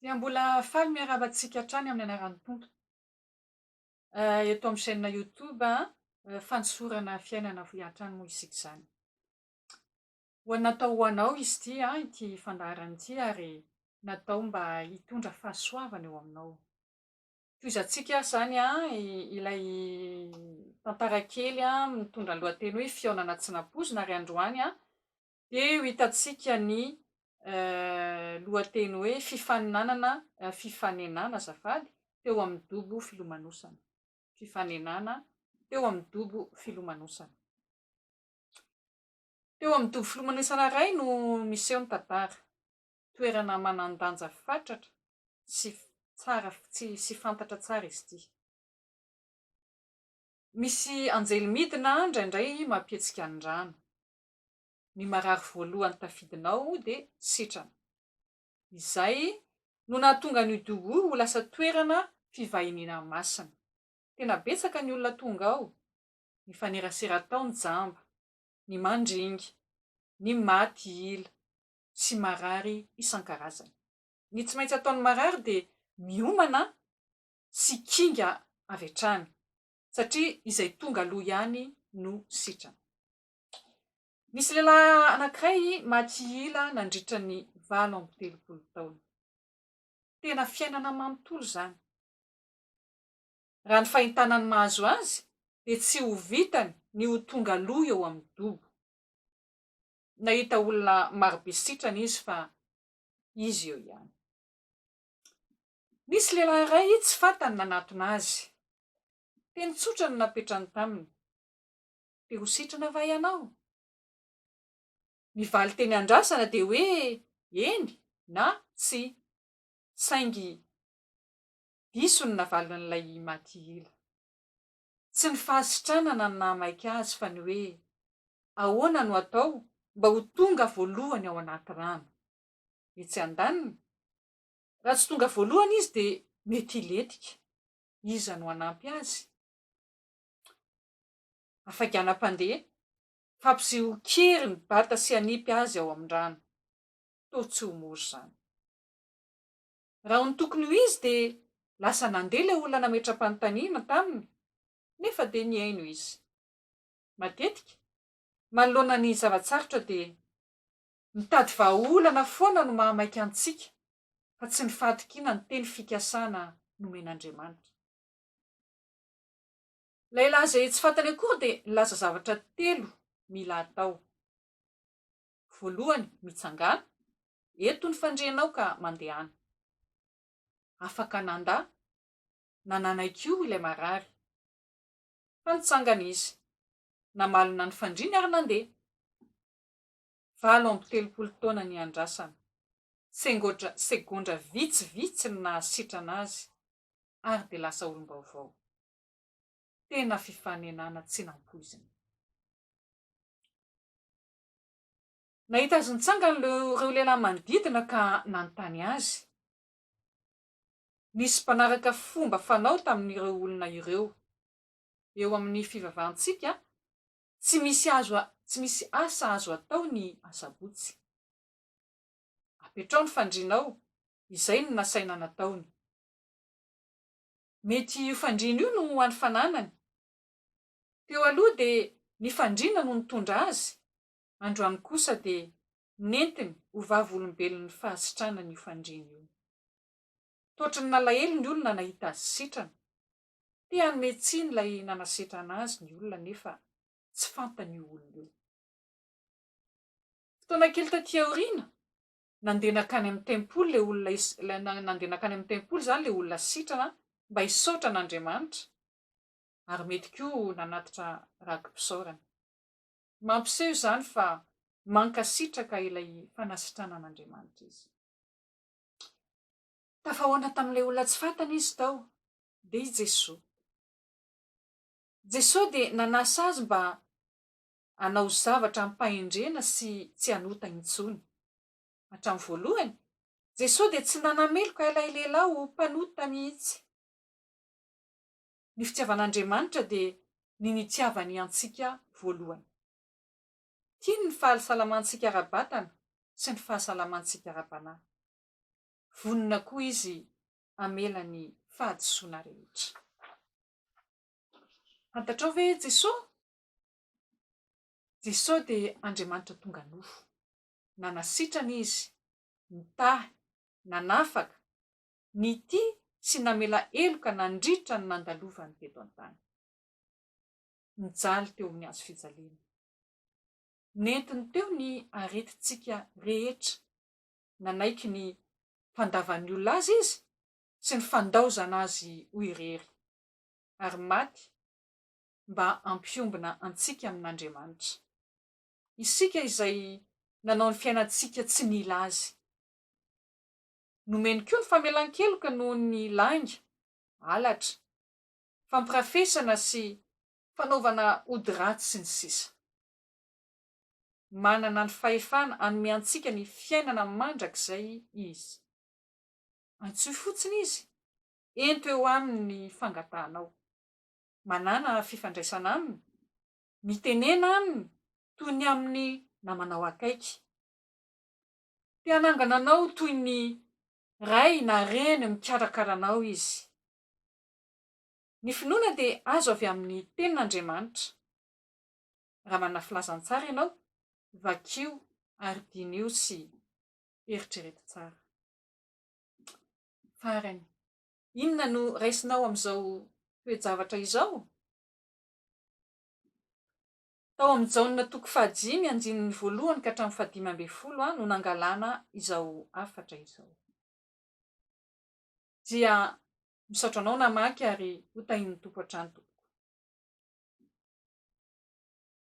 Dia mbola faly miarahaba antsika hatrany amin'ny anaran'ny Tompo eto amin'ny chaîne YouTube fanosorana fiainana hoy hatrany moa isika izany. Ho an'ny natao ho anao izy ity ity fandaharana ity ary natao mba hitondra fahasoavana eo aminao. Tohizantsika izany ilay tantara kely mitondra ny lohateny hoe fihaonana tsy nampoizina ary androany Dia ho hitantsika ny lohateny hoe Fifaninanana Fifanenana azafady teo amin'ny dobo filomanosana. Fifanenana teo amin'ny dobo filomanosana. Teo amin'ny dobo filomanosana iray no miseho ny tantara. Toerana manan-danja fatratra sy tsara sy fantatra tsara izy ity. Misy anjely midina indraindray mampihetsika ny rano. ny marary voalohany tafidinao dia setrana. Izay no nahatonga an'io dobo io ho lasa toerana fivahiniana masina. Tena betsaka ny olona tonga ao, mifanerasera tao ny jamba, ny mandringa, ny maty ila sy marary isan-karazany. Ny tsy maintsy ataon'ny marary dia miomana sy kinga avy hatrany satria izay tonga aloha ihany no setrana. Nisy lehilahy anankiray maty ila nandritra ny valo amby telopolo taona. Tena fiainana manontolo izany. Raha ny fahintana ny mahazo azy dia tsy ho vitany ny ho tonga aloha eo amin'ny dobo. Nahita olona marobe sitrana izy fa izy eo ihany. Nisy lehilahy iray tsy fantany nanatona azy. Teny tsotra no napetrany taminy. dia ho sitrana va ianao? Ny valin-teny andrasana dia hoe eny na tsia, saingy diso ny navalin'ilay Imatihila. Tsy ny fahasitranana no nahamaika azy fa ny hoe ahoana no atao mba ho tonga voalohany ao anaty rano. Etsy andaniny, raha tsy tonga voalohany izy dia mety hilentika. Iza no hanampy azy? Afaganam-pandeha, Hampiziha ho kery ny bata sy hanipy azy ao amin'ny rano. Toa tsy ho mora izany. Raha ny tokony ho izy dia lasa nandeha ilay olona nametram-panontaniana taminy nefa dia nihaino izy. Matetika, manoloana ny zava-tsarotra dia mitady vahaolana foana no mahamaika antsika fa tsy ny fahatokiana ny teny fikasana nomen'Andriamanitra. Ilay laza etsy fantany akory dia nilaza zavatra telo mila atao. Voalohany, mitsangàna, eto ny fandrianao ka mandehana. Afaka nandà na nanaiky io ilay marary. Fa nitsangana izy, namalona ny fandriany ary nandeha. Valo amby telopolo taona niandrasana. Sengodra segondra vitsivitsy no nahasitrana azy ary dia lasa olom-baovao. Tena fifanenana tsy nampoizina. Nahita azy nitsangana ireo lehilahy manodidina ka nanontany azy. Nisy mpanaraka fomba fanao tamin'ireo olona ireo. Eo amin'ny fivavahantsika, tsy misy azo tsy misy asa azo atao ny asabotsy. Apetraho ny fandrianao, izay no nasaina nataony. Mety io fandriana io no ho any fananany. Teo aloha dia ny fandriana no nitondra azy, androany kosa dia nentiny ho vavolombelon'ny fahasitranany io fandriana io. Totry ny nalahelo ny olona nahita azy sitrana. Te hanome tsiny ilay nanasetra anazy ny olona nefa tsy fantany io olona io. Fotoana kely taty aoriana, Nandeha nankany amin'ny tempoly ilay olona is-, nandeha nankany amin'ny tempoly izany ilay olona sitrana mba hisaotra an'Andriamanitra ary mety koa nanatitra ragim-pisaorana. Mampiseho izany fa mankasitraka ilay fanasitrana an'Andriamanitra izy. Tafahoana tamin'ilay olona tsy fantany izy tao, dia i Jesoa. Jesoa dia nanasa azy mba hanao zavatra amim-pahendrena sy tsy hanota intsony. Hatramin'ny voalohany, Jesoa dia tsy mba nameloka ilay lehilahy ho mpanota mihitsy. Ny fitiavan'Andriamanitra dia ny nitiavany antsika voalohany. Tiany ny fahalsalamantsika ara-batana sy ny fahasalamantsika ara-panahy. Vonona koa Izy hamela ny fahadisoana rehetra. Fantatrao ve Jesoa? Jesosy dia Andriamanitra tonga nofo. Nanasitrana Izy, nitahy, nanafaka, nitia sy namela heloka nandritra ny nandalovany teto an-tany. Nijaly teo amin'ny hazo fijaliana. Nentiny teo ny aretintsika rehetra. Nanaiky ny fandavan'ny olona Azy Izy sy ny fandaozana Azy ho irery, ary maty mba hampiombona antsika amin'Andriamanitra. Isika izay nanao ny fiainantsika tsy nila Azy. Nomeny koa ny famelan-keloka noho ny lainga, halatra, fampirafesana sy fanaovana ody ratsy sy ny sisa. Manana ny fahefana hanome antsika ny fiainana mandrakizay Izy. Antsoy fotsiny Izy, ento eo Aminy ny fangatahanao. manàna fifandraisana aminy, mitenena aminy toy ny amin'ny namanao akaiky. Te hanangana anao toy ny ray na reny mikarakara anao Izy. Ny finoana dia azo avy amin'ny Tenin'Andriamanitra. Raha manana filazantsara ianao, vakio ary diniho sy eritrereto tsara. Farany, Inona no raisinao amin'izao toe-javatra izao? Tao amin'ny Jaona toko fahadimy andininy voalohany ka hatramin'ny fahadimy ambin'ny folo no nangalana izao hafatra izao. Dia misaotra anao namaky ary hotahian'ny Tompo hatrany tompoko.